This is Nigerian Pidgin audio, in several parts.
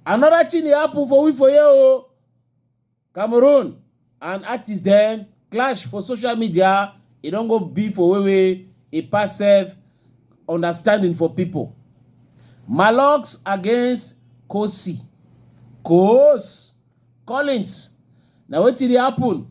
Another thing dey happen for we for here o. Cameroon and artists dem clash for social media, e don go be for where wey e pass sef understanding for people. Malox against Kosi. Kos Collins na wetin dey happen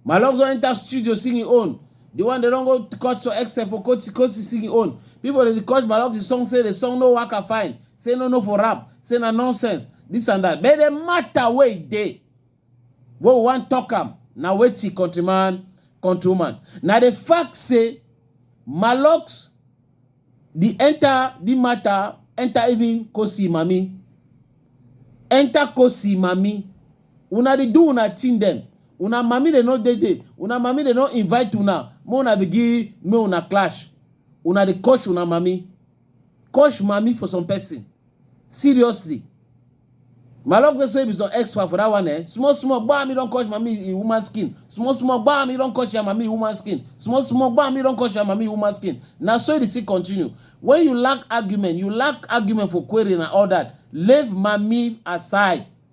My love don enter studio sing im own. The one they don't go cut to except for Kosi Kosi sing im own. People they cut my love the song say the song no waka fine. Say no no for rap. Say na nonsense. This and that. But the matter where e dey. What we want talk am. Na wetin countryman, countrywoman. Na the fact say Malox Di enter di matter enter even Kosi mami. Enter Kosi mami. Una dey do una thing dem. Una mami dey no dey dey. Una mami dey no invite una. Make una begin make una clash. Una dey curse una mami. Curse mami for some person. seriously my love go say if it's your ex for that one eh small small gbam you don catch mami in woman skin small small gbam you don catch your mami in woman skin small small gbam you don catch your mami in woman skin na so the thing continue when you lack argument you lack argument for query and all that leave mami aside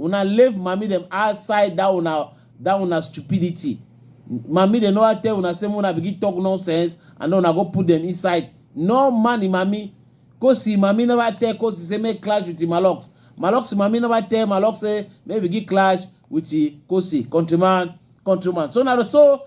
Una leave mami dem outside that una that una stupidity. Mami dem no wan tell una say make una begin talk nonsense and then una go put dem inside. No man in mami. Kosi mami never tell Kosi say make clash with him Malox. Malox mami never tell Malox say make begin clash with him Kosi. Countryman, countryman. So na so